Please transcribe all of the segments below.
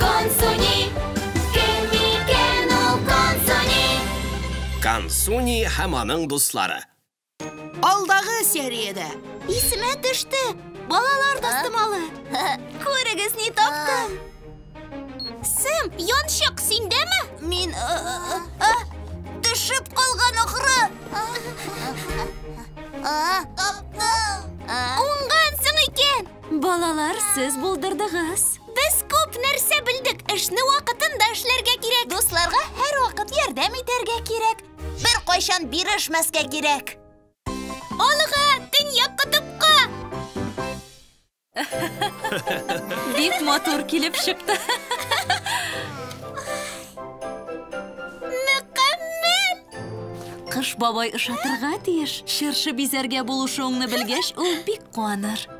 Консуни, кем микән ул Консуни? Консуни һәм аның дуслары. Алдагы сериядә. Исемә төште, балалар тастымалы. Күрегез, ни таптым. Сэм, янчык синдәме? Мин э, э, э, төшеп калган ахры. Таптым. Уңгансың икән. Балалар, сез булдырдыгыз. Без күп нәрсә белдек. Эшне вакытында эшләргә кирәк. Дусларга һәрвакыт ярдәм итәргә кирәк. Беркайчан бирешмәскә кирәк. Алга, Төньяк котыпка! Бик матур килеп чыкты. Мөкаммәл! Кыш бабай ошатырга тиеш. Чыршы бизәргә булышуыңны белгәч, ул бик куаныр.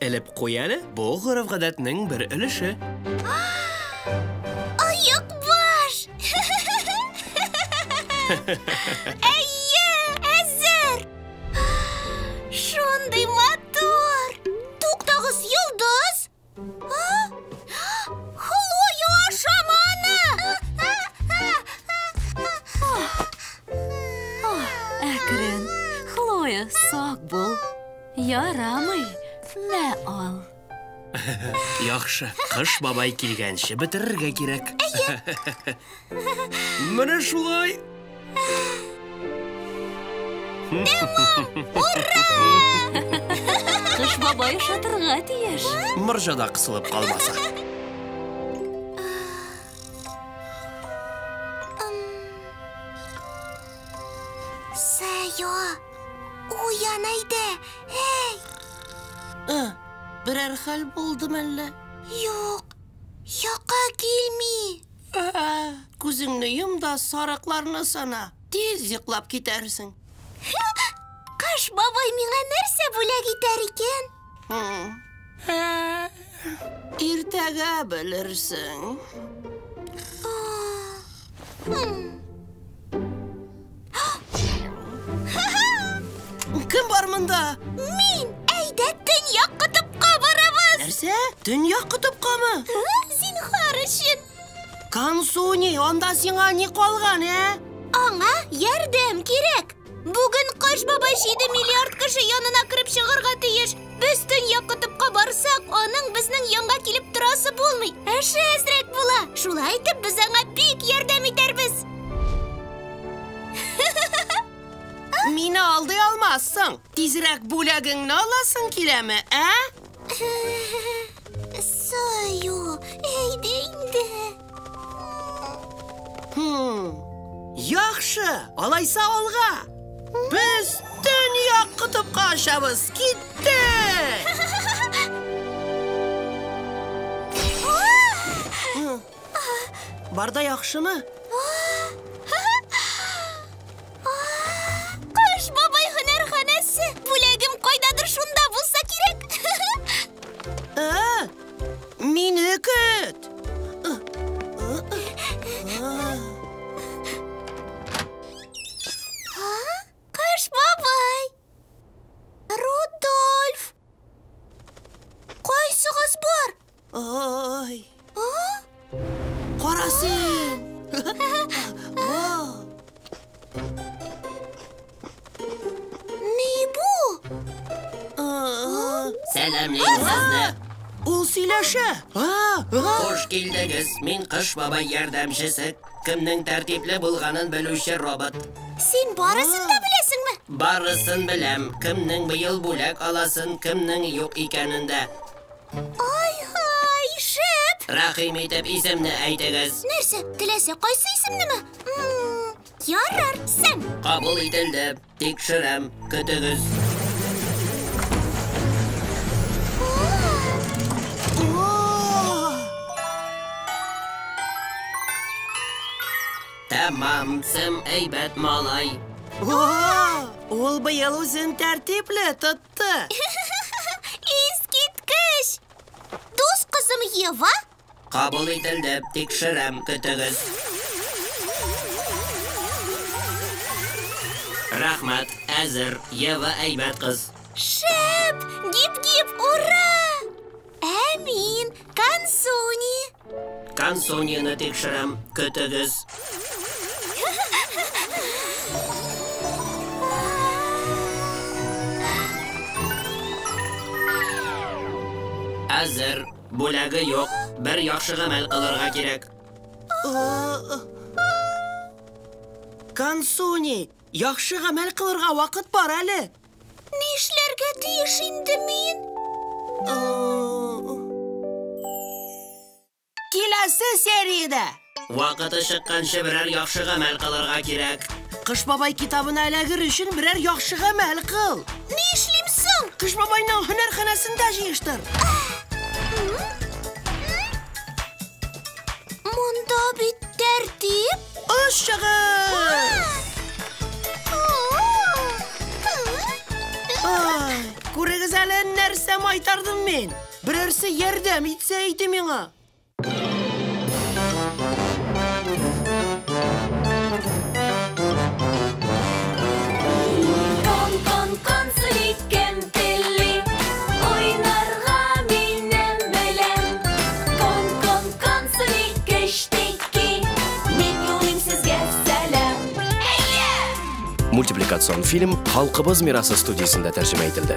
Элеп куй әле, бу гореф-гадәтнең бер өлеше. Оек баш! Әйе, әзер! Шундый матур! Туктагыз, йолдыз! Хлоя, ашама аны! Әкрен, Хлоя, сак бул. Ярамый, мә ал. Яхшы, кыш бабай килгәнче бетерергә кирәк. Менә шулай. Кыш бабай шатырга тиеш. Морҗада кысылып калмаса. Сәя. Уян әйдә, әй! Ә, берәр хәл булды мәллә? Юк, йокы килми. Ә, күзеңне йом да сарыкларны сана. Тиз йоклап китәрсең. Кыш бабай миңа нәрсә бүләк итәр икән? Хм. Иртәгә белерсең. Кем бар монда? Мин! Әйдә, төньяк котыпка барабыз! Нәрсә? Төньяк котыпкамы? Зинхар өчен! Кансуни, анда сиңа ни калган, ә? Аңа ярдәм кирәк! Бүген Кыш бабай 7 миллиард кеше янына кереп чыгарга тиеш. Без төнья кытыпка барсак, аның безнең янга килеп торасы булмый. Эше әзрәк була. Шулай итеп без аңа бик ярдәм итәрбез. Мине алдый алмассың. Тизрәк бүләгеңне аласың киләме, ә? Саю, әйдә инде. Яхшы, алайса алга. Без дөнья кутупка ашабыз. Китте! Барда яхшымы? Кыш бабай һөнәрханәсе. Бүләгем кайдадыр шунда булса кирәк. Ә, Мине көт! Кыш бабай! Рудольф! Кайсыгыз бар? Ой! А? Кара син! Ни бу? Сәламлим сезне. Ул сөйләшә. Хуш килдегез. Мин Кыш бабай ярдәмчесе. Кемнең тәртипле булганын белүче робот. Син барысын да беләсеңме? Барысын беләм. Кемнең быел бүләк аласын, кемнең юк икәнен дә. Ай-һай, шәп! Рәхим итеп исемне әйтегез. Нәрсә, теләсә кайсы исемнеме? М, Ярар, Сэм. Кабул ителде. Тикшерәм. Көтегез. Тәмам, Сэм әйбәт малай. Ул быел үзен тәртипле тот. чыкты. Искиткеч! Дус кызым Ева? Кабул ителде, тикшерәм, көтегез. Рәхмәт, әзер, Ева әйбәт кыз. Шәп! Гип-гип, ура! Ә мин Кансуни. Кансунины тикшерәм, көтегез. Әзер, бүләге юк, бер яхшы гамәл кылырга кирәк. Кансуни, яхшы гамәл кылырга вакыт бар әле. Нишләргә тиеш инде мин? Киләсе сериядә! Вакыты чыкканчы берәр яхшы гамәл кылырга кирәк. Кыш бабай китабына эләгер өчен берәр яхшы гамәл кыл. Ни эшлим соң? Кыш бабайның һөнәрханәсендә җыештыр. Монда бит тәртип. Аш чыгыш! Күрегез әле нәрсә майтардым мин. Берәрсе ярдәм итсә иде миңа. мультипликацион фильм Халкыбыз мирасы студиясендә тәрҗемә ителде.